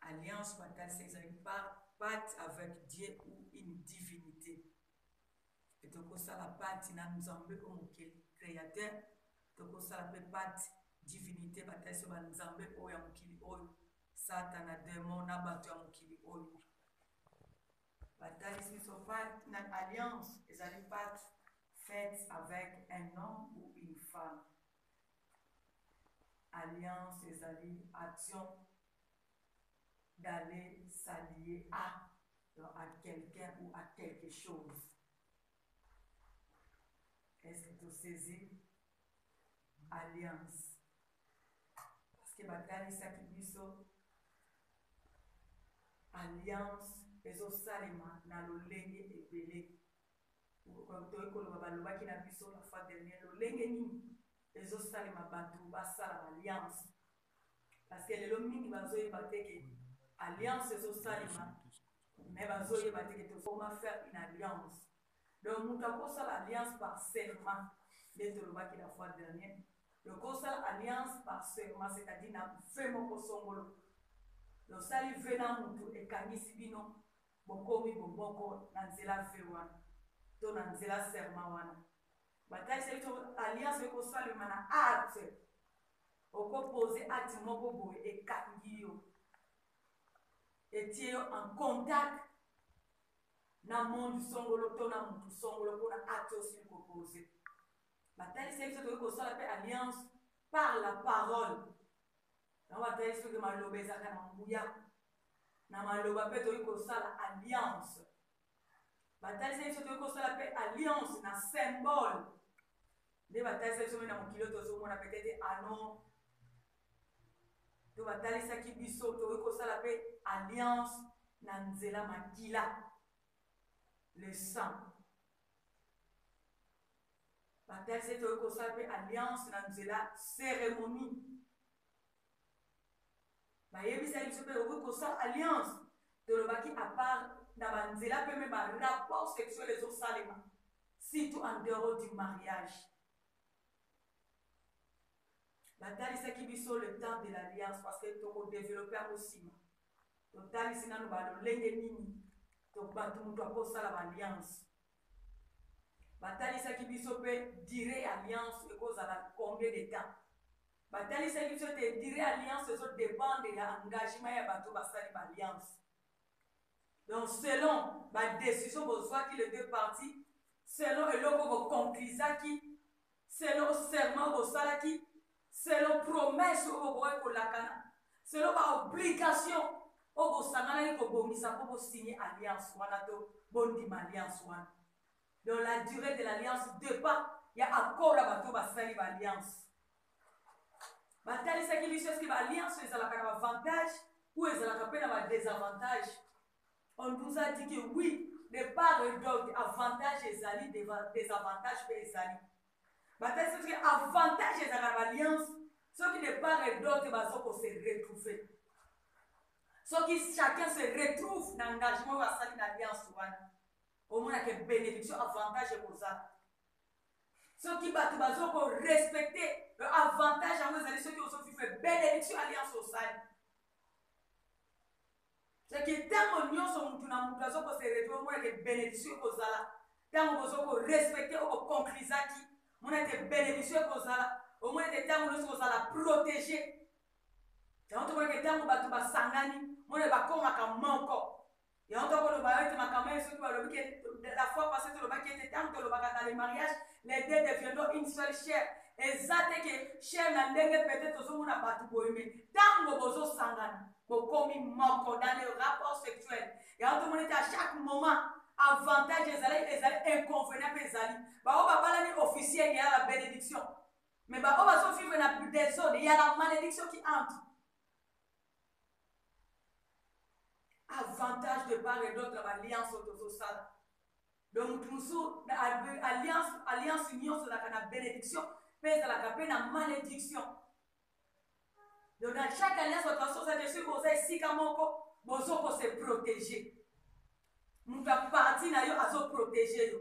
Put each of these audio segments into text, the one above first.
Alliance batalisa ezali par pacte avec Dieu ou une divinite et tokosala pacte na Nzambe oyo mokeli createur tokosala mpe pacte divinite batalisa ba Nzambe oyo ya mokili oyo satana demon na bato ya mokili oyo batalisi biso pacte na alliance ezali pacte faite avec un homme ou une femme Alliance ezali action d'aller s'allier à donc à quelqu'un ou à quelque chose. Est-ce que tu saisis alliance? Parce que batalisaki biso alliance ezosalema na lolenge ebele Toye koloba balobaki na biso la fois dernière lolenge nini ezo salema batu basala b'alliance parce que lelo mingi bazo yeba te ke alliance ezo salema mais bazo yeba te ke tokoma faire une alliance donc mutu akosala alliance par serment nde tolobaki la fois dernière donc osala alliance par serment c'est à dire na fe moko songolo losali ve na mutu ekangisi bino Bokomi bomoko na nzela vœux wana to na nzela serment wana. Batalisaki biso alliance eko salema na acte. Oko poser acte moko boye ekangi yo, etie yo en contact na monde songolo to na mutu songolo pona acte osili ko poser. Batalisaki biso tokoki kosala pe alliance par la parole. Yango batalisaki biso ke maloba ezalaka na nguya. na maloba mpe tokoki kosala alliance. Batalisaki biso tokoki kosala mpe alliance na symbole. Nde batalisaki biso mpe na mokili oyo tozomona petete ano to batalisaki biso tokoki kosala mpe alliance na nzela makila le sang batalisaki tokoki kosala mpe alliance na nzela cérémonie bayebisaki biso mpe okoki kosala alliance tolobaki apart na banzela mpe mpe barapport sexuel ezosalema surtout en dehors du mariage batalisaki biso le temps de l'alliance parce que tokodeveloppe yango nsima totalisi nano balolenge nini bato moto akosala baalliance Batalisaki biso pe duree ya alliance ekozala combien de temps. Batalisaki biso ete duree ya alliance ezo dependre ya engagement ya bato basali ba alliance. Donc selon ba decisions bozwaki les deux parties, selon eloko bo conclusaki, selon serment bosalaki, selon promesse oyo bokokaki kolakana, selon ba obligations oyo bosanganaki kobongisa mpo bo signer alliance wana to bondima alliance wana. Donc la duree de l'alliance depend ya accord ya bato basali ba alliance. Batalisaki biso eske ba alliance ezalaka na ba avantage ou ezalaka mpe na ba desavantage. On vous a dit que oui de part et d'autre avantage ezali desavantage mpe ezali batali soki avantage ezalaka na baliance soki de part et d'autre bazo ko se retrouver soki chacun se retrouve na engagement oyo asali na alliance wana omonake bénédiction avantage ekozala soki bato bazo ko respecte avantage yango ezali soki ozo vivre bénédiction alliance osali C'est que tango nionso mutu na mutu azo ko se retrouver mona que benediction eko zala tango bozo ko respecter oyo bo conclusaki mona que benediction eko zala omona que tango nionso kozala proteger yango tomona que tango bato basangani mona bakomaka moko yango tokoloba yo ete makambo ya soki balobi ke la fois passé tolobaki ete ntango tolobaka na le mariage les deux deviendront une seule chair eza te ke chair na ndenge peut-être tozomona bato boyeme ntango bozosangana bokomi moko dans le rapport sexuel yango tomoni te à chaque moment avantage ezali ezali inconvenient mpe ezali baoyo babalani officiel ya la bénédiction mais baoyo bazovivre na desode ya la malédiction qui entre avantage de part et d'autre baliance oyo tozosala donc motu mosusu alliance nyonso ezalaka na bénédiction mpe ezalaka mpe na malédiction Donc na chaque alliance bato basosake soki boza esika moko bozo ko se proteger moto ya parti na yo azo proteger yo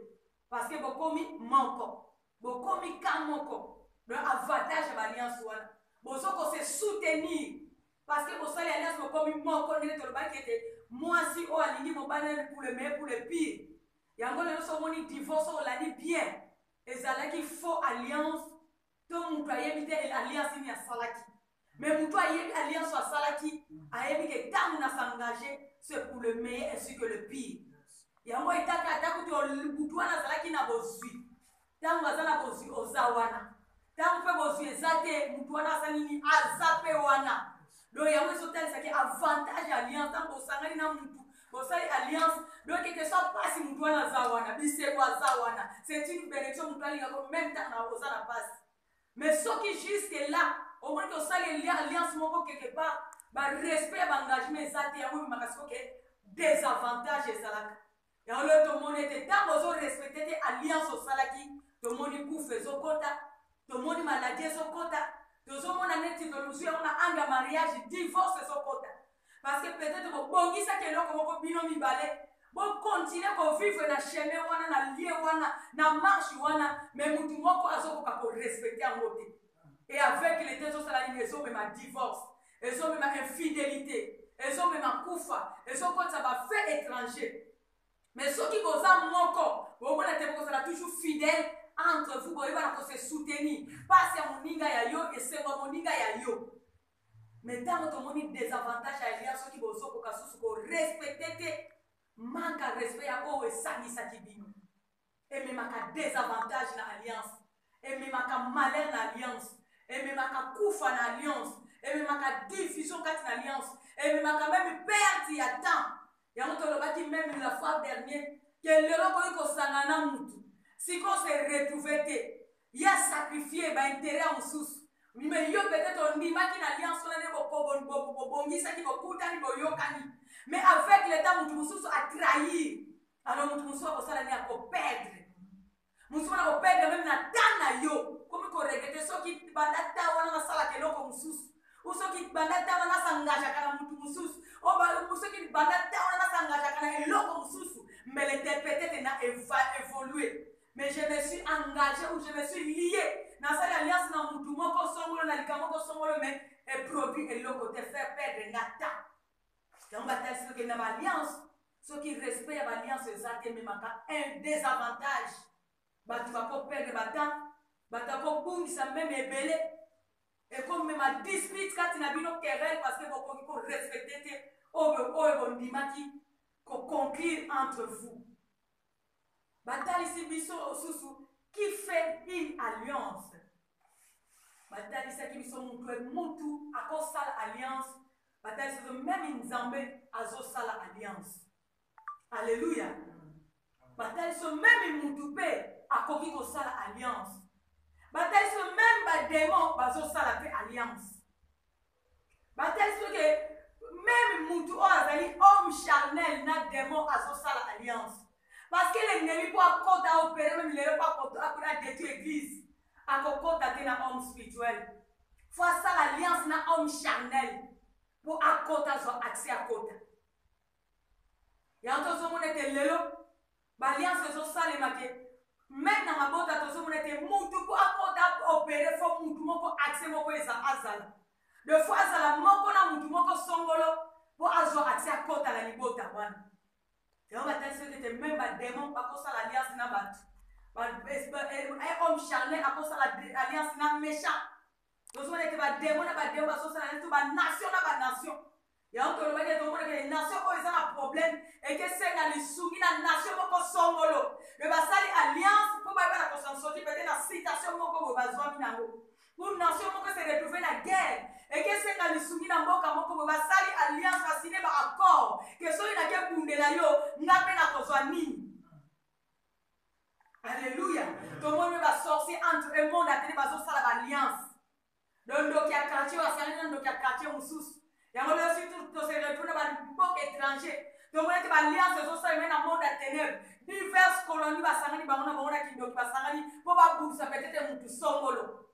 parce que bokomi moko bokomi ka moko donc avantage ya baalliance wana bozo ko se soutenir parce que bosali alliance bokomi moko ndenge tolobaki ete mwasi oyo alingi mobali na likule me kule pire yango lelo so omoni divorce olandi bien ezalaki faux alliance to mutu ayebi te alliance nini asalaki mais mutu ayebi alliance asalaki ayebi ke tangu na s'engage c'est pour le meilleur ainsi que le pire yango etaka ata kutu butu wana azalaki na bozwi tangu aza na bozwi oza wana ntango mpe bozwi eza te motu wana aza nini aza mpe wana donc yango ezotalisa ke avantage ya alliance ntango bosangani na mutu bosali alliance donc ete so mpasi mutu wana aza wana bisengo aza wana c'est une benediction mutu alingako meme ntango na oza na mpasi mais soki jusque là omoni ke osali elia alliance moko quelque part barespect ya baengagement eza te yango ememaka sikoke desavantage ezalaka Yango lelo tomoni ete ntango ozo respecte te alliance osalaki, tomoni kufa ezokota, tomoni maladi ezokota, tozomona neti tozwi yango na ange ya mariage, divorce ezokota parce que peut-être bobongisaki eloko moko bino mibale bokontinue kovivre na chemin wana na lie wana na marche wana me motu moko azokoka korespecte yango te e aveugle te ezosala nini ezomema divorce ezo mema infidelite ezo mema kufa ezo kotisa ba fait étranger mais soki boza moko bomona te bokozala toujours fidèle entre vous boyebana ko se soutenir pasi ya moninga ya yo esengo ya moninga ya yo me ntango tomoni desavantage ya lia soki bozokoka susu korespecte te manka respect ya oyo esangisaki bino ememaka desavantage na alliance ememaka malheur na alliance ememaka kufa na alliance ememaka division kati na alliance ememaka meme perte ya temps yango tolobaki meme la fois dernier ke lelo okoki kosangana na mutu sikoyo se retrouve te ye asacrifie baintere ya mosusu me yo peut-être ondimaki na alliance wana nde bobongisaki bokutani boyokani mais avec leta motu mosusu atrahir alors moto mosusu akosala nini akoperdre mosusu wana koperdre meme na ta na yo komi koregrete soki banda ta wana nasalaka eloko mosusu ou soki banda ta wana nasangajaka na motu mosusu ou soki banda ta wana nasangajaka na eloko mosusu mais le tepetete na eva évoluer mais je me suis engagé ou je me suis lié nasali alliance na motu moko songolo na likambo moko songolo mais eproduit eloko te faire perdre nga ta yango batalisi okenda baalliance Soki respect ya ba alliance eza te ememaka un desavantage. Batu bako perdre ba temps, batu ako bungisa meme ebele, eko mema dispute kati na bino, querelle parce que bo koki ko respecter te oyo bo ndimaki ko conclure entre vous. batalisi biso osusu qui fait une alliance batalisaki biso mutu e mutu akosala alliance batalisi biso meme nzambe azosala alliance alleluya batalisi biso meme mutu mpe akoki kosala alliance batalisi biso meme bademon bazosala mpe alliance Batalisi que meme mutu oyo azali homme charnel na demon azosala alliance parce que l'ennemi po akota opere meme lelo po akota akota detu eglise akokota te na homme spirituel fo asala alliance na homme charnel mpo akota azwa accès akota yango tozomona ete lelo Ba alliance ezo salema que meme na mabota tozo mona te mutu po akota opere fo mutu moko accès moko eza azala de fo azala moko na mutu moko songolo po azwa accès akota na libota wana yango batalisi yo tete meme bademon bakosala alliance na bato eh, eh, eh, homme charne akosala alliance na méchant tozomona ete bademo na bademo bazosala neti ba nation na ba nation yango tolobaki ete omona ke nation oyo eza na problème ekesenga lisungi na nation moko songolo me basali alliance mpo bayeba na kosansoki pete na citation moko boye bazwami na yango pour nation moko se retrouve na guerre ekesenga lisungi na mboka moko boye basali alliance basine ba accord ke soki nakebundela yo nga mpe nakozwa nini Alléluia. Tomoni ba sorciers entre eux monde atene bazosala ba alliance. Donc ndoki ya quartier oyo asangani na ndoki ya quartier mosusu. Yango lelo surtout to se retrouve na ba mboka étranger. Tomoni ete ba alliance ezosala meme na monde ya ténèbres. Diverses colonies basangani bango na bango na kindoki basangani mpo babundisa peut-être motu songolo.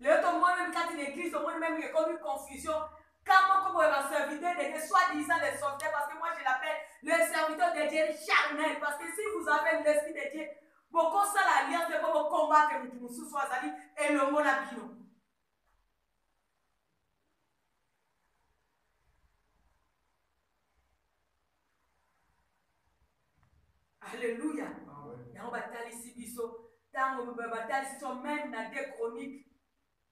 Lelo tomoni meme kati na eglise tomoni meme que ekomi confusion ka moko boye ba serviteur de Dieu soit disant les serviteurs parce que moi je l'appelle le serviteur de Dieu charnel parce que si vous avez l'esprit de Dieu bokosala alliance mpo bokombate motu mosusu azali elongo na bino Alleluia. Yango batalisi biso tango batalisi biso meme na de chronique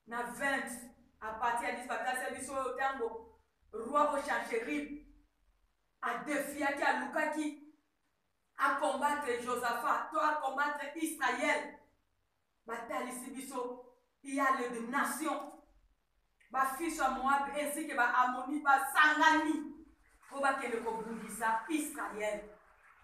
na 20 à partir ya 10 batalisa biso oyo tango roi o Sancherib adefiaki alukaki akombatre Josaphat to akombatre Israël Batalisi biso yale de nation ba fils ya Moab ainsi que ba Ammonite basangani mpo bakende kobundisa Israël.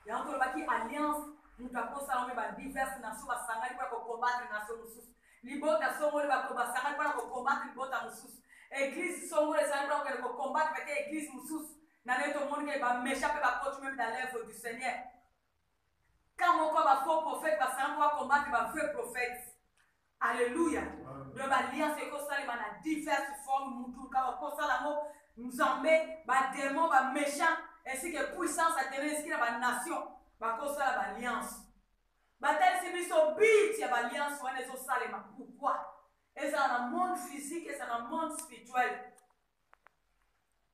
Yango tolobaki alliance moto akosa yango ba diverses nations basangani mpo ya kokombatre nation mosusu. Libota songolo bato basangani mpo na kokombatre libota mosusu. Eglise songolo esangani mpo na kokende kokombatre bake eglise mosusu. Na nde tomoni ke ba méchants mpe bakoti meme dans l'œuvre du Seigneur. Camp moko ba faux prophète ba sango ba combattre ba vrai prophète. Alléluia. Donc ba alliance eko salema na diverse forme mutu kaka ko sala ngo nzambe ba démon ba méchant ainsi que puissance à tenir esiki na ba nation ba ko sala ba alliance. Ba talisi biso but ya ba alliance wana ezo salema pourquoi? Ezala na monde physique ezala na monde spirituel.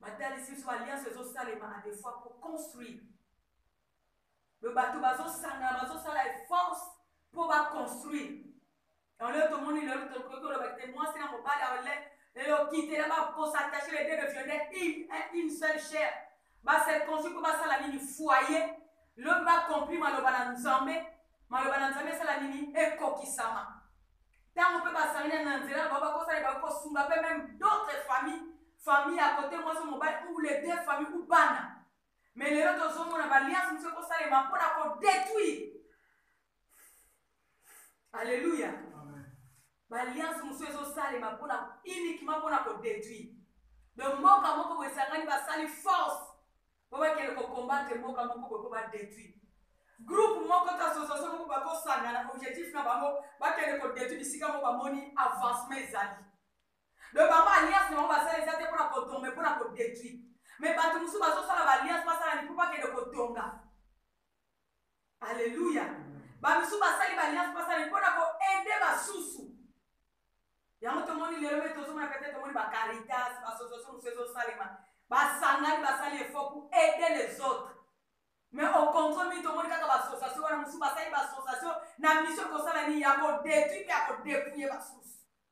Ba talisi biso ba alliance ezo salema à des fois pour construire bato bazosangana bazosala efforce mpo baconstruire lelo tomoni lelo tokoki koloba te mwasi na mobali aole lelo kitela bakosattache les deux deviennent une eh, seule chair base construire mpo basala nini foyer lelo mpe bakompli maloba na nzambe maloba na nzambe esala nini ekokisama ntango mpe basangani na nzela na bango bakosala bakoki kosunga mpe meme d'autres famille famille ya kote mwasi mobali ou les deux famille ou bana Mais lelo tozomona baliance mosusu ekosalema mpo na kodetruire alleluya baliance mosusu ezosalema mpona uniquement mpona kodetruire de mboka moko boye esangani basali force mpo bakende kokombatre mboka moko boye mpo badetruire groupe moko to association moko bakosangana objectif na bango bakende kodetruire bisika moko bamoni avancement ezali donc bango alliance na bango basala eza te mpona kotonga me mpona kodetruit me bato mosusu bazosala baalliance basala ni mpo bakende kotonga alleluya bamisusu basali baalliance basala ni mpona koede basusu yango tomoni lelo me tozomona pete tomoni bacaritas basososo mosusu ezosalema basangani basali efo ku ede les autres mais au contraire mingi tomoni kaka baassociation wana mosusu basali baassociation na mission kosala nini ya kodetruit mpe ya kodepouye basusu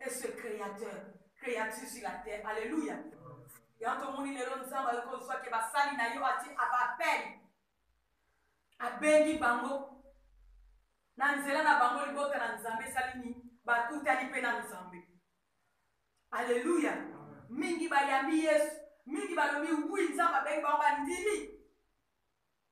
et ce createur creature sur la terre alleluia yango tomoni lelo nzambe ayoki kozwa ke basali na yo ati abapele abengi bango na nzela na bango libota na nzambe esali nini bakutani mpe na nzambe alleluia mingi bayambi yesu mingi balobi wi nzambe abengi bango bandimi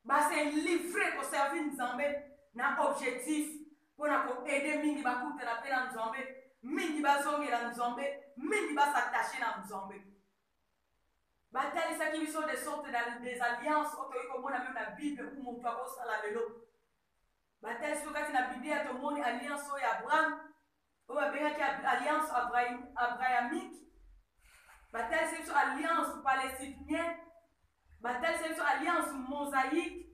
Ba se livrer ko servir Nzambe na objectif pona ko aider mingi ba kutana pe na Nzambe, mingi ba zongela Nzambe, mingi ba s'attacher na Nzambe. Ba talisaki biso des sortes de des alliances oyo tokoki komona meme na Bible ou mutu akosala lelo. Ba talisi biso kati na Biblia tomoni alliance oyo ya Abraham oyo babengaki alliance abrahamique batalisa biso alliance palestinien batalisa biso alliance mosaïque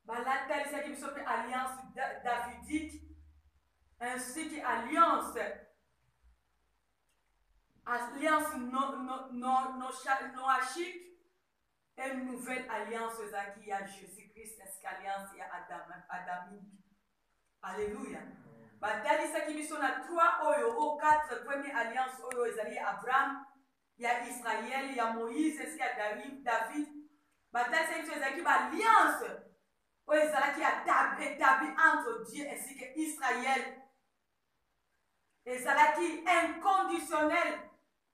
balatalisaki biso mpe alliance davidique ainsi que alliance alliance noachique et nouvelle alliance ezalaki ya jésus christ ainsi qu'alliance ya adamique Alleluia! Batalisaki biso na trois oyo, oh, quatre premiers alliances oyo ezali ya Abraham, ya Israël, ya Moïse, ainsi ya David. Batalisaki biso ezalaki ba alliances oyo ezalaki etabli entre Dieu ainsi que Israël. Ezalaki inconditionnel.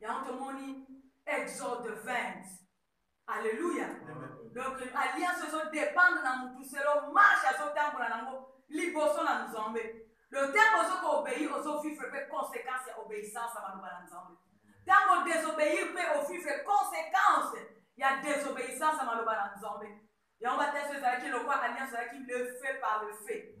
yango tomoni exode 20 alleluia donc alliance ezo dépendre na motu selo marche azotambola nango liboso na nzambe donc ntango ozo koobei ozovivre mpe conséquence ya obeissance ya maloba na nzambe ntango odesobéir mpe ovivre conséquence ya désobéissance ya maloba na nzambe Yango bateso ezalaki lokola alliance ezalaki le feu par le feu.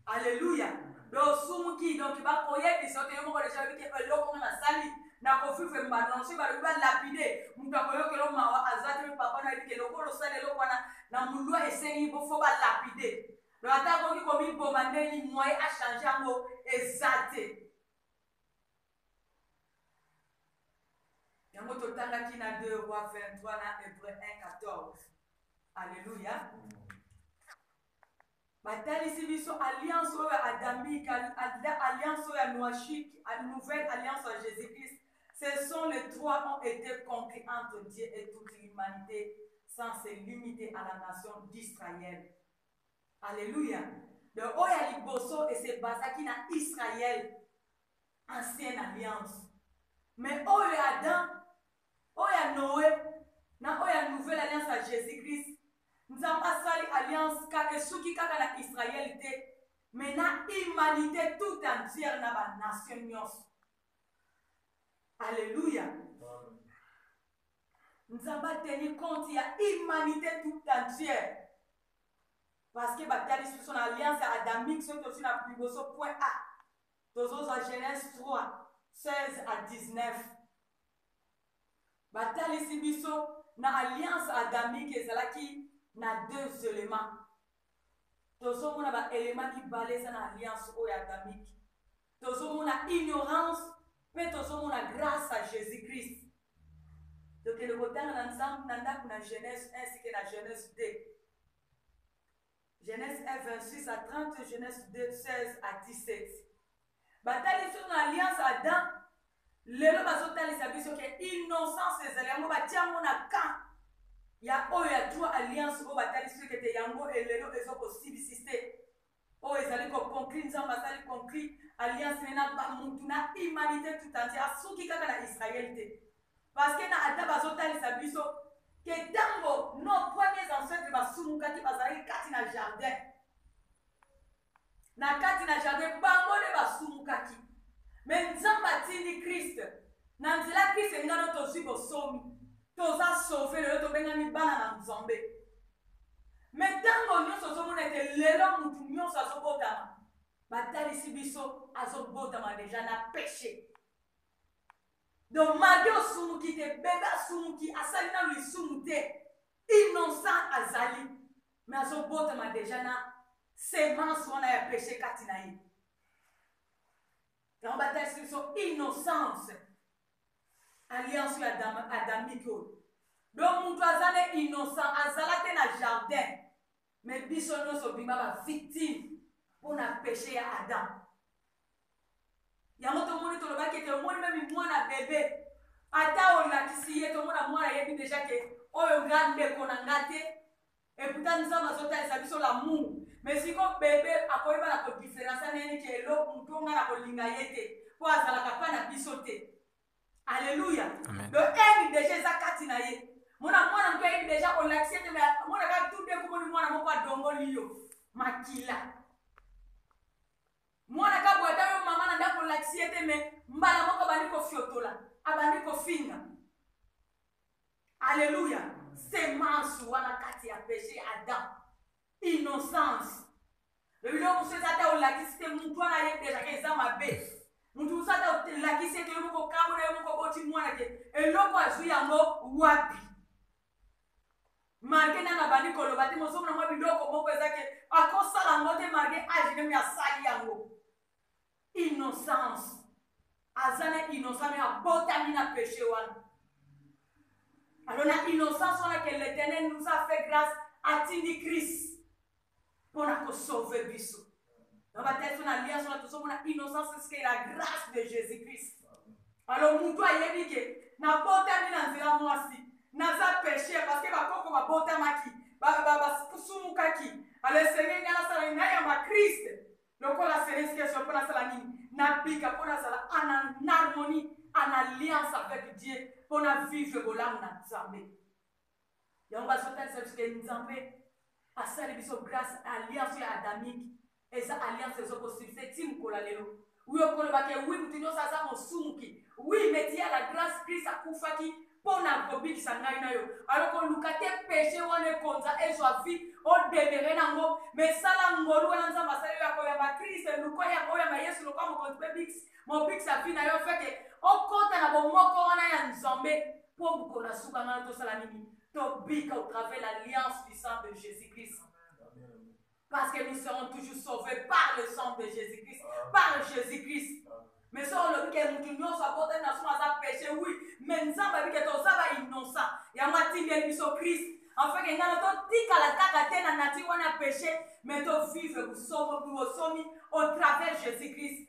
Alléluia. Donc osumuki donc bakoyebisa ote yo moko deja oyebi ke eloko nga nasali nakovivre mbano soki balobi balapide moto akoyokela o mawa aza te mpe papa nayebi ke lokola osali eloko wana na molua esengi bofo balapide donc ata akoki komiboma ndenge nini moye achange yango eza te yango totangaki na 2 roi 23 na hebreu 1 14 alleluya batalisi biso alliance oyo adamique alliance oyo ya noachique nouvelle alliance ya jésus christ ce sont les trois ont été conclus entre dieu et toute l'humanité sans se limiter à la nation d'israël alleluya donc oyo ya liboso esebasaki na israël ancienne alliance mais oyo ya adam oyo ya noe na oyo ya nouvelle alliance ya jésus christ nzambe asali alliance kaka esuki kaka na israele te mais na humanité tout entière na banation nyonso alleluya nzambe ateni compte ya humanité tout entière parce que batalisi biso na alliance ya adamique soki tozwi na liboso point a Tozozwa Genese 3, 16 à 19. Batalisi biso na alliance adamique ezalaki na deux elements. Tozomona ba elements mibale eza na alliance oyo adamique. Tozomona ignorance mpe tozomona grâce à Jésus-Christ. Tokende kotanga na nzambe na ndako na Genese 1 sike na Genese 2. Genese 1, 26 à 30, Genese 2, 16 à 17. Batali biso na alliance Adam, lelo bazotalisa biso ke innocence ezali yango batia yango na camp ya oyo ya trois alliance oyo batalisi biso kete yango elelo ezo kosibisiste oyo ezali koconclure nzambe asali conclure alliance ne na bamutu na humanité tout entier asuki kaka na israel te Parce que na ata bazo talisa biso que tango nos premiers ancêtres ba sumukaki bazalaki kati na jardin na kati na jardin bango nde basumukaki me nzambe atindi kriste na nzela kriste elinga no tozwi bosomi toza sauve lelo tobengami bana na nzambe me ntango nyonso ozomona ete lelo motu nyonso azobotama batalisi biso azobotama deja na peche Donc malgre osumuki te bebe asumuki asali nanu lisumu te innocent azali mais azobotama deja na semence wana ya peche kati na ye yango batalisi biso innocence alliance ya adam, adamike oyo donc moto aza na innocent azala te na jardin mais biso nyonso bima bavictime mpo na peche ya adam yango tomoni tolobaki ete omoni meme mwana bebe ata olakisi ye tomona mwana ayebi deja ke oyo nga ndeko na nga te eputa nzambe azotalisa biso lamour mais siko bebe akoyeba na kodiferensa nayeni ke elo moto nga na kolinga ye te mpo azalaka mpa na biso te alleluya do eni deja eza kati na ye mona mwana moto ayebi deja olakisi ete mona kaka tude komoni mwana moko adongoli yo makila Mwana kabwata yo maman na ndako olakisi ye te mais mbala moko abandi kofiotola abandi kofinga alleluya semence wana kati ya péché ya adam innocence lobi loko mosusu eza ata olakisi te motu wana ayebi dejaka eza mabe motu mosusu ata olakisi ete yo moko okambo na yo moko oboti mwana te eloko azwi yango wapi Marge nanu abandi koloba te mozomona mwa biloko moko eza ke akosala yango te marge age nemi asali yango innocence aza na innocent me abotami na peche wana alors na innocence wana ke letenel nous a fait grâce atindi christ pona ko sauver biso na ba telefone na liance wana tozomona innocence eske la grâce de jésus christ alors mutu ayebi ke nabotami na nzela mwasi naza péché parce que bakoko babotamaki basumukaki alors esengeli ngai nasala nini nayamba christ lokola seleskeso mpo nasala nini nabika mpo nazala en harmonie en alliance avec dieu mpo na vivre bolamu na nzambe Yango bazokanisa biso ke Nzambe asali biso grace alliance ya adamique eza alliance ezo ko succès ti mokolo ya lelo. Oui okoloba ke oui moto nyonso aza mosumuki. Oui mais ti ya la grace Christ akufaki mpo na kobikisa ngai na yo. Alors koluka te peche wana ekonza ezwa vie o demeurer nango mais sala ngolu wana Nzambe asali yo ya koyamba Christ luka ya koyamba Yesu lokola mokonzi mpe bikisi mobikisa vie na yo feke okota na bomoko wana ya Nzambe. Po bukona suka nanu tosala nini tobika au travers l'alliance du sang de Jésus Christ parce que nous serons toujours sauvés par le sang de Jésus Christ par Jésus Christ mais soki olobi ke motu nyonso abotani na suma aza péché oui mais nzambe abi ke toza ba innocent yango atindeli biso Christ enfin ke ngana totikala kaka te na nature wana ya péché mais tovivre bosomi au travers Jésus Christ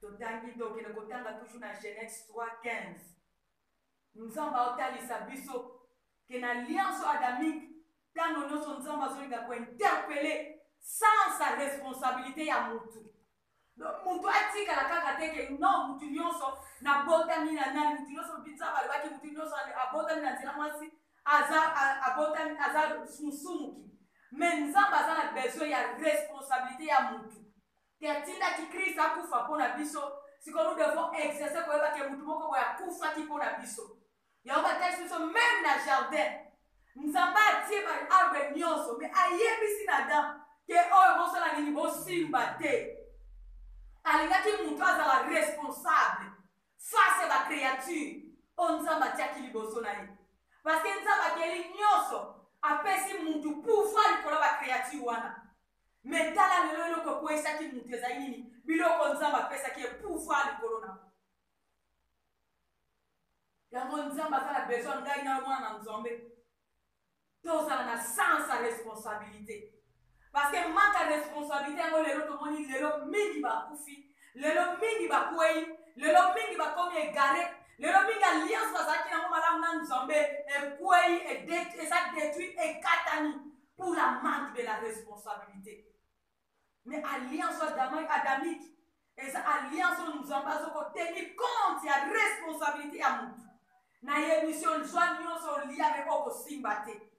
Totangi tokende kotanga toujours na Genese 3, 15. Nzambe aotalisa biso ke na lianso adamique tango nionso Nzambe azolinga ko interpeller sans sa responsabilite ya mutu. Donc mutu atikala kaka te ke non mutu nionso nabotami na nani mutu nionso Nzambe alobaki mutu nionso abotami na nzela mwasi aza abotami aza musumuki. Mais Nzambe aza na besoin ya responsabilite ya mutu. te atindaki Christ akufa mpo na biso, sikoyo nous devons exercer koyeba ke motu moko boye akufaki mpo na biso. Yango batalisi biso meme na jardin Nzambe atie ba arbre nyonso, me ayebisi na Adam ke oyo bosala nini, bosimba te. Alingaki motu azala responsable face ba creature oyo Nzambe atiaki liboso na ye, parce que Nzambe akeli nyonso apesi mutu pouvoir likolo ya ba creature wana Mais tala lelo eloko ekweyisaki mutu ezali nini? Biloko Nzambe apesaki ye pouvoir likolo na ngo. Yango Nzambe aza na besoin ngai na yo mwana na Nzambe tozala na sens ya responsabilite parce que manque ya responsabilite yango lelo tomoni lelo mingi bakufi lelo mingi bakwei lelo mingi bakomi egare lelo mingi alliance bazalaki nango malamu na nzambe ekwei eza detruit ekatani pour la manque de la responsabilité mais alliance adamique eza alliance oyo nzambe azokoteni compte ya responsabilité ya motu nayebi si ozwa nyonso olia me okosimba te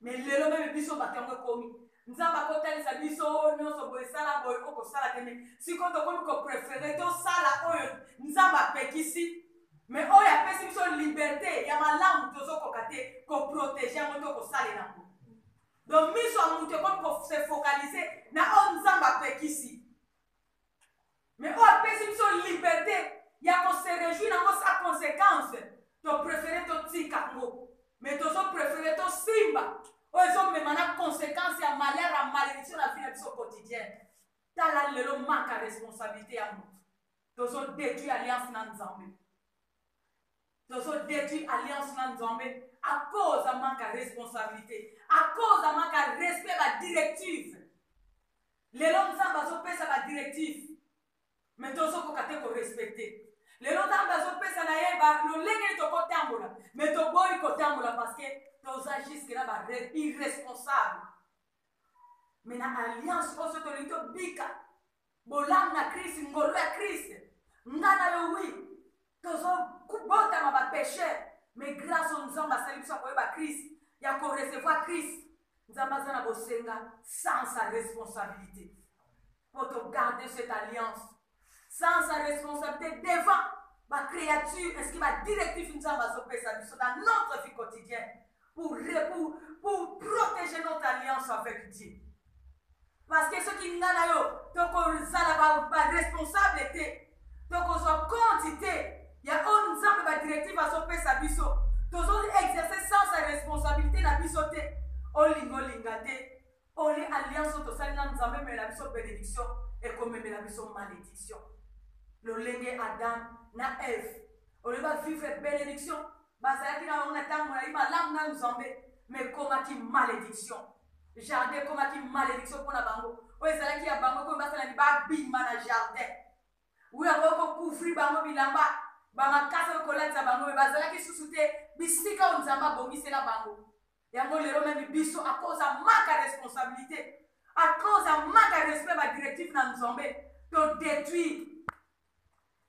me lelo meme biso bato yango ekomi nzambe akotalisa biso oyo nyonso boye esala boye okosala te me sikoyo tokomi koprefere tosala oyo nzambe apekisi Mais oyo apesi biso liberte ya malamu tozo koka te ko proteger yango to kosalela yango. Donc miso ya moto ekomi ko se focaliser na oyo Nzambe apekisi. Mais oyo apesi biso liberte ya ko se réjouir yango sa conséquence to préférer to tika yango. Mais tozo préférer to simba oyo ezomema na conséquence ya malheur ya malédiction na vie na biso quotidienne tala lelo manque ya responsabilité ya moto tozo detruit alliance na nzambe tozo detruit alliance na nzambe a cause ya manque ya responsabilité a cause ya manque ya respect ba directive lelo nzambe azopesa ba directive me tozokoka te korespecte lelo nzambe azopesa na ye lolenge tokotambola me toboyi kotambola parceke toza juske na ba irresponsable me na alliance oyo so tolingi tobika Bolamu na Christ, ngolu ya Christ. Nga na yo oui, tozo botama ba pecheur, mais grâce au Nzambe asali biso koyeba Christ, ya ko recevoir Christ. Nzambe aza na bosenga sans sa responsabilité. Pour te garder cette alliance sans sa responsabilité devant ba créature est-ce que ba directif nzambe azopesa biso na notre vie quotidienne pour pour pour protéger notre alliance avec Dieu parce que soki nga na yo tokozala ba, ba responsable te tokozwa compte te ya oyo nzambe badirective azopesa biso tozo exerce sans sa responsabilité na biso te olinga olinga te Pole alliance oyo tosali na nzambe ememela biso benediction ekomemela biso malediction lolenge adam na eve oyo ba vivre benediction bazalaki na bango na ntango molai malamu na nzambe ma ekomaki malediction jardin ekomaki malediction mpo na bango oyo ezalaki ya bango ekomi basala ni babima na jardin wi yango ekokouvri bango bilamba bamakasi oyo kolatisa bango me bazalaki susu te bisika oyo nzambe abongisela bango Yango lelo meme biso a cause ya manque ya responsabilite, a cause ya manque ya respect ba directive na Nzambe, to detruire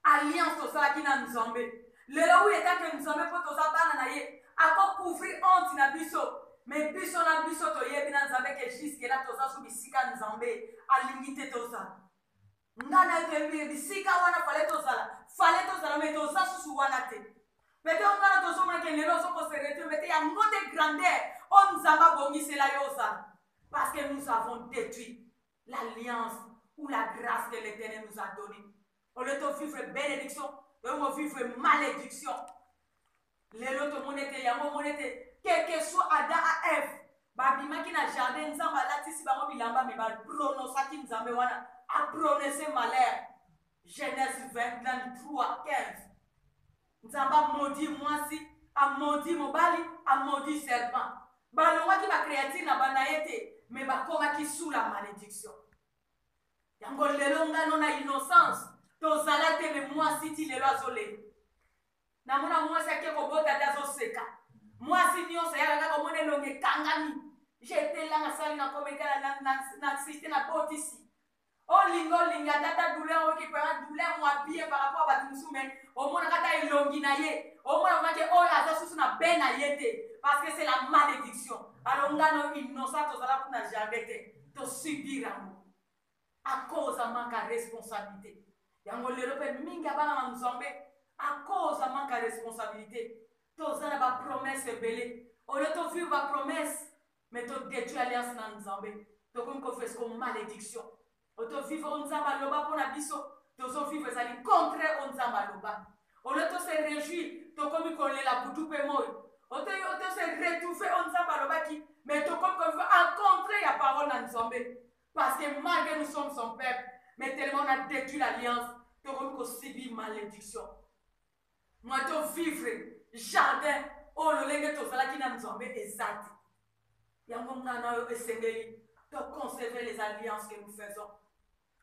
alliance tosalaki na Nzambe. Lelo oui etant que Nzambe mpo toza bana na ye, ako couvrir honte na biso. Mais biso na biso toyebi na Nzambe que jusque là toza sous bisika Nzambe alingi te tozala. nga na ke bi- bisika wana fale tozala fale tozala me toza susu wana te mete ongana tozomona ke lelo ozokoseretio mete yango nde grandeur oyo nzambe abongisela yo ozala parce que nous avons détruit l'alliance ou la grâce que l'éternel nous a donné au lieu tovivre bénédiction toyongo vivre malédiction Lelo tomoni ete yango omoni ete quelque soit Adam a Eve babimaki na jardin Nzambe alatisi bango bilamba mais ba pronosaki Nzambe wana a prononcer malheur Genèse 23 15 Nzambe a maudit mwasi a maudit mobali a maudit serpent balongwaki ba créature na bana ye te mais bakomaki sous la malédiction yango lelo ngano na innocence tozala te me mwasi ti lelo azolela Namona mwasi ake kobota te azoseka. Mwasi nionso yaka kaka omona elongi ekangami. J'étais là nasali na kometala na na na insiste na botisi. Olinga olinga ata ata douleur oyoki pema douleur mwa bien par rapport bato mosusu mais omonaka ata elongi na ye omona omaki oyo aza susu na be na ye te parce que c'est la malédiction alors nga no innocent tozala kuna jardin te tosubir yango a cause ya manque ya responsabilite yango lelo pe mingi ya bana na nzambe a cause ya manque ya responsabilite toza na ba promesse ebele olio to vivre ba promesse mais to detruit alliance na nzambe tokomi ko vivre ko malediction oto vivre o nzambe aloba mpo na biso tozo vivre ezali contraire o nzambe aloba olio to se réjouir tokomi kolela butu mpe moi otoyotose retrouve oyo nzambe alobaki me tokomi koviva encontre ya parole na nzambe Parce que malgre nous sommes son peuple mais tellement on a detruit l'alliance tokomi ko subir malédiction moi to vivre jardin oyo lolenge tozalaki na nzambe eza te yango ngai na yo esengeli to conserver les alliances que nous faisons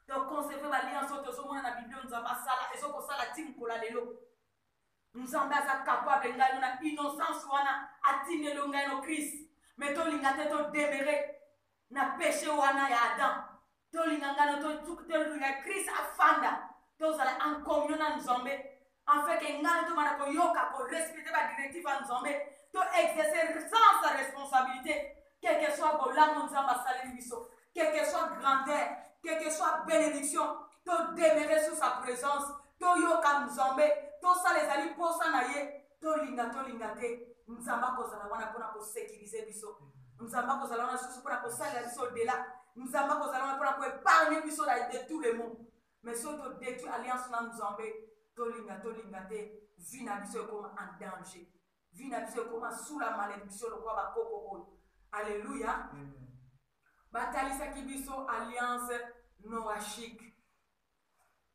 to conserver baalliance oyo tozomona na biblio nzambe asala ezokosala ti mokolo lelo nzambe aza capable ngai no na innocence wana atindelo ngai no krist me tolinga te todemere na peche wana ya Adam tolinga ngana toluka Christ afanda tozala en communion na Nzambe afin que ngana tobanda koyoka ko respecter ba directive ya Nzambe to exercer sans sa responsabilité quel que soit bolamu Nzambe asaleli biso quel que soit grandeur quel que soit bénédiction to demeurer sous sa présence toyoka Nzambe tosala ezali mposa na ye tolinga tolinga te nzambe akozala wana mpona kosekirize biso nzambe akozala wana lisusu mpona kosalela biso dela nzambe akozala wana mpona koepargne biso na de tout le monde mais soki todetruit alliance na nzambe tolinga tolinga te vi na biso ekoma en danger vi na biso ekoma sula maledictio lokola bakoko oyo alleluya batalisaki biso alliance noachique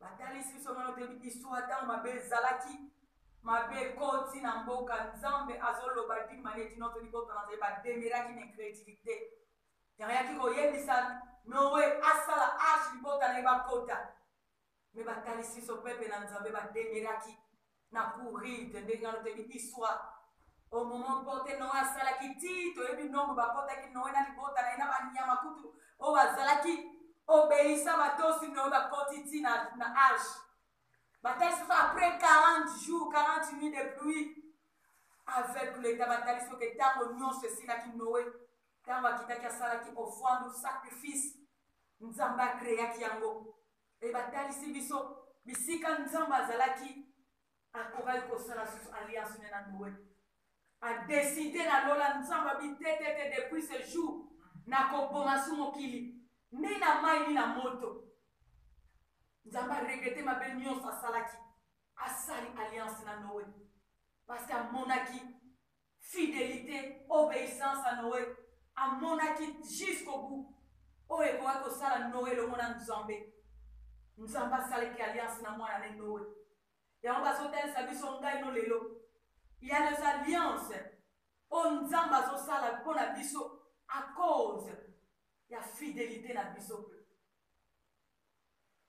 batalisi biso nano toyebi histoire ntango mabe ezalaki mabe ekoti na mboka nzambe azoloba dine manière dino to libota na nzambe bademeraki na incrédulité yayaki koyebisa noe asala arche libota na ye bakota me batalisi biso pepe na nzambe bademeraki na couride ndenge wana toyebi histoire au moment porte noe asalaki ti toyebi nombre bakotaki noe na libota na ye na banyama kutu oyo bazalaki obeisa batosi noe bakoti ti na, na arche batalisi biso après 40 jours 40 nuit de pluie avec leta batalisi oke ntango nyonso esilaki noe ntango akitaki asalaki ofwandu sacrifice nzambe akreaki yango Et batalisi biso bisika Nzambe azalaki akokaki kosala susu alliance ne na Noe. A décider na lola Nzambe abi te te te depuis ce jour na koboma su mokili ni na mai ni na moto. Nzambe a regretter mabe nyonso asalaki asali alliance na Noe parce que amonaki Fidelite, obeissance ya Noe, amonaki jusqu'au bout oyo ekokaki kosala Noe elongo na Nzambe. Nzambe asalaki alliance na mwana ne Noe. Yango bazotalisa biso ngai no lelo. Il y a les alliances oyo Nzambe azosala mpo na biso à cause ya fidelite na biso mpe.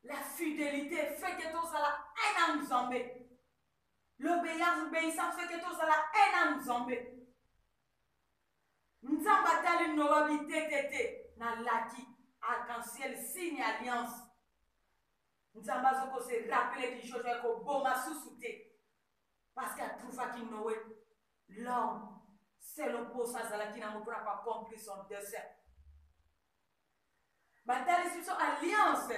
La fidelite fait que tozala un na Nzambe. L'obeillance, obeissance fait que tozala un na Nzambe. Nzambe atali Noa bitetete na laki arc-en-ciel signe alliance. Nzambe azoko se rappeler du jojo ya koboma susu te. Parce que atrouvaki Noé l'homme selon posa azalaki nango mpona ko accomplir son dessein. Batalisi biso alliance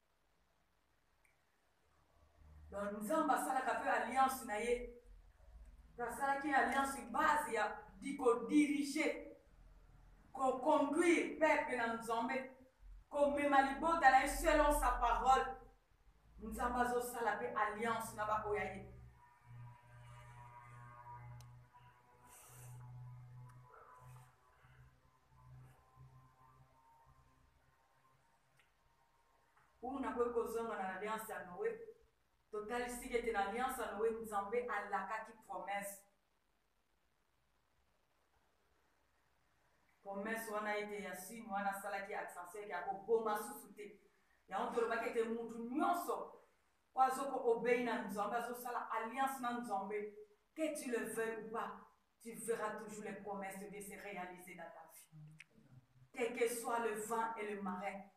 Donc Nzambe asalaka mpe alliance na ye, asalaki alliance base ya di kodiriger, koconduire peuple na Nzambe, komema libota na ye selon sa parole. Nzambe azosala mpe alliance na baoyo ya ye. Oyo nakoki kozonga na Alliance ya Noe, totalisiki ete na Alliance ya Noe, Nzambe alakaki promesse. Promesse wana ete ya sini wana asalaki accenseur ete akoboma susu te. Yango tolobaki ete mutu nyonso oyo azoko obei na Nzambe, azosala alliance na Nzambe, Que tu le veuilles ou pas, tu verras toujours les promesses de Dieu se realiser dans ta vie. Quel que soit le vent et le marais,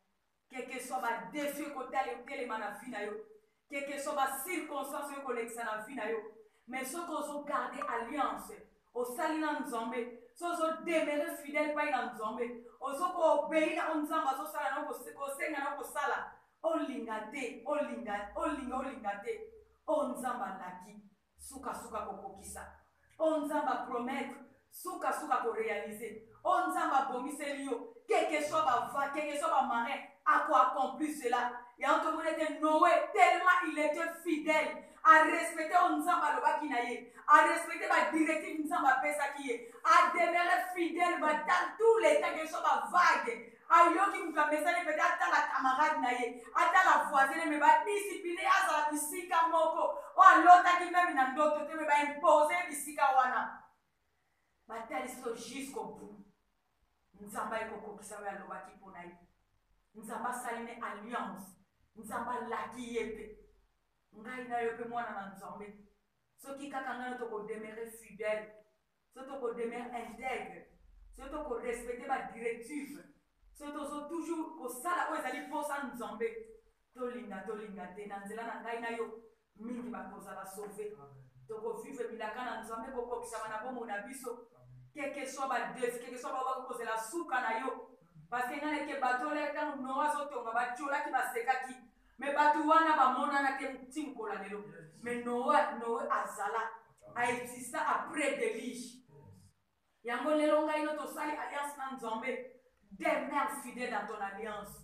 quel que soit ba défi ekotala etelema na vie na yo, quel que soit ba circonstance ekolekisa na vie na yo, mais soki ozo garde alliance osali na nzambe so ozo demere fidèle pai na nzambe ozo koobei na oyo nzambe azosala na kosenga na kosala olinga te olinga olinga olinga te oyo nzambe alaki Suka suka ko kokisa oyo nzambe a promettre suka suka ko realise oyo nzambe a bongiseli yo que que soit ba va que que soit ba marin a ko accomplir cela yango to moni ete Noe tellement il etait fidèle a respecter oyo nzambe a lobaki na ye a respecter ba directive nzambe a pesaki ye a demeure fidèle ba temps tous les temps que soit ba vague ayoki moto amesani pete atala camarade na ye atala voisine me badisipline ye azala bisika moko oyo alotaki meme na ndoto te me baimpose ye bisika wana batalisi yo jusqu'au bout nzambe ayekokokisa oyo alobaki mpo na ye nzambe asali ne alliance nzambe alaki ye mpe ngai na yo mpe mwana na nzambe soki kaka ngai tokodemere fidèle soki toko demeurer integre, soki toko respecter ba directives, soki tozo toujours kosala oyo ezali posa ya Nzambe, tolinga tolinga te, na nzela na ngai na yo, mingi bakozala sauver. Toko vivre bilaka na Nzambe ekokokisama na bomoi na biso, quel que soit ba defis, quel que soit baoyo bakoki kozela suka na yo. Parce que ngai nayebite bato oyo tango Noe azotonga, batiolaki, basekaki, Mais batu wana ba monana te ti mukola lelo. Mais Noe, Noe azala, a exista après deluge. Yango lelo ngai no tosali alliance na Nzambe. Demeure fidèle dans ton alliance.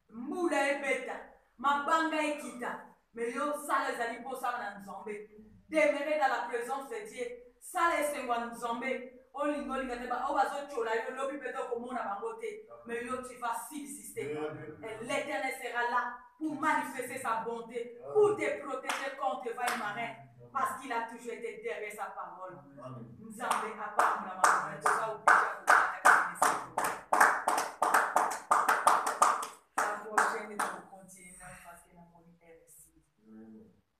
Mbula ebeta, mabanga ekita, mais yo sala ezali po osala na Nzambe. Demeure dans la presence de Dieu. Sala esengo ya nzambe olinga olinga te ba oyo bazo tshola yo lobi peut oko mona bango te mais yo tu vas subsister et l'eternel sera là pour manifester sa bonte pour te proteger quand te va marin parce qu'il a toujours été derrière sa parole nzambe apambola marin toza obija